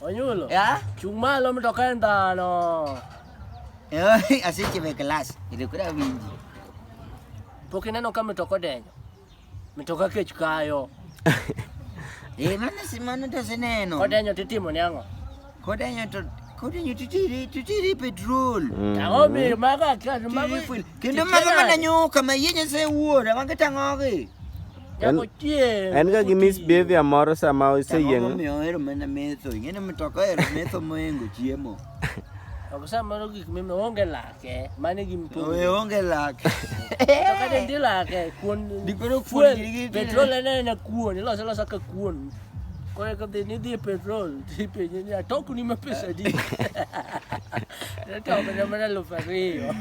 Onyulo. Ya? Chung' malo mtoka en dhano. Eh, aseche be class. Ile kura winji. Pok ineno ka mtoka odenyo. Mtoka kech kayo. Eh, mano si mano to seneno. Kodenyo titimo ni ang'o? Kodenyo to kodenyo titiri titiri petrol. Ang'o mi mago akia mago. Titiri fuel. Kendo mago mana nyoka ma yie nyasaye wuora, mago tang'ogi. En- Jakochie. En ga gi misbehavior moro sama Ang'o oseyieng'. momiyo ohero mana metho? Ing'eni mtoka ohero metho mohingo chiemo. Ok samoro gik mime onge lake. Mane gi Owe mtungi. onge lak. To kata ndi lake kuon. Dipero fuel, kuon gi- Petrol en ena kuon. Iloso loso ka kuon. Kore ka dhi ni dhi e petrol. Ti penye ni atoko ni ma pesa di. Atoko ni mana elfu ariyo.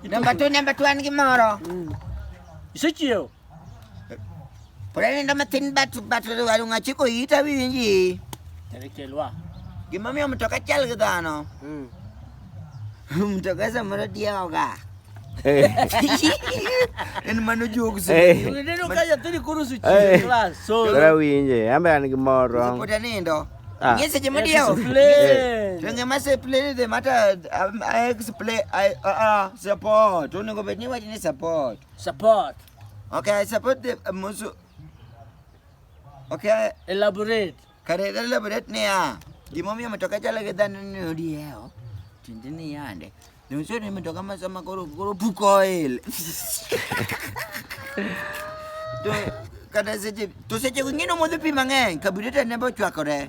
Namba tu, namba tu an gi moro. Isechiew. Pulenda mathin bat bat waru ngachi ko ita winji. Terekelwa. Gima miyo mtoka chal gi dhano. Mm. Mtoka samoro diewoga. Eh. En mano jokes. Eh. Uneno ka nyathini koro su eh. class. So. Ora winje, ambe an gi mor wrong. Pod anindo. Ah. Yes, je mo diewo. Tenge ma se play the matter I explain I uh, uh, support. Onego bed ni wach ni support. Support. Okay, I support the uh, Musu. Okay, Elaborate. kare kare labret niya. Gimomiyo matoka chalo gi dhano ni odiewo. Tiende ni yande. Nonyiso ni matoka ma sama koro koro puko oil. To kata seche to seche go ng'ino modho pi mang'eny kabureta ne bochwakore.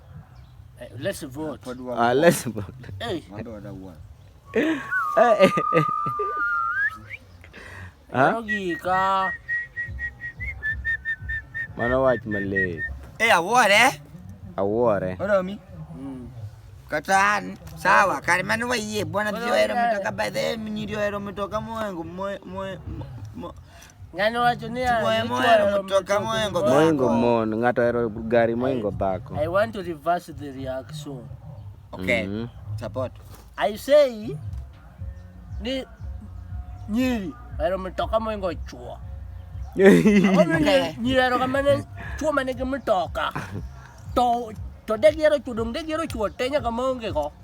Eh, let's vote. Pod wa- Ah, let's vote. Hey, Wando wada wuon. Eh, eh, eh. Ah, ogika. mano wach malit. Eh, awuore. Awuore. Oromi. Mm. Kata an. Sawa, kare mano wayie. Bwana Bwana, jio hero wayie. mitoka by the way, nyiri ohero mitoka mohengo mo- mo- mo- mo- Ng'ano wacho ni moingo mon, ng'ato ohero gari moingo dhako. I want to reverse the reaction. Okay. Mm -hmm. Support. I say ni nyiri ohero mtoka moingo chuo. Nyiri ohero kamane chuo manigi mtoka. To to de gihero chuo dong de gihero chuo te nyaka maonge go.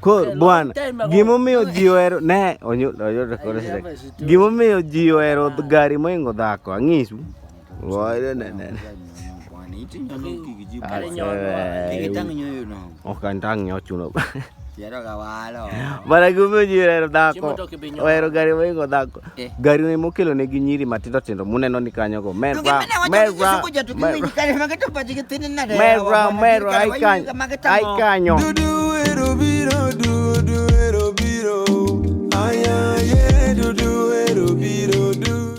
Koro bwana, gimomiyo ji ohero ne gimomiyo ji ohero gari moingo dhako ang'isu. Ok antang' nyochuno. Mana gimomiyo ji ohero dhako, ohero gari moingo dhako. Eh. Gari ne mokelo ne gi nyiri matindo tindo muneno ni kanyo go. Mera. Mera. Mera. Mera. Ai kanyo. Ai kanyo. Dudu ero biro. Dudu ero biro. Aya ye. Dudu ero biro.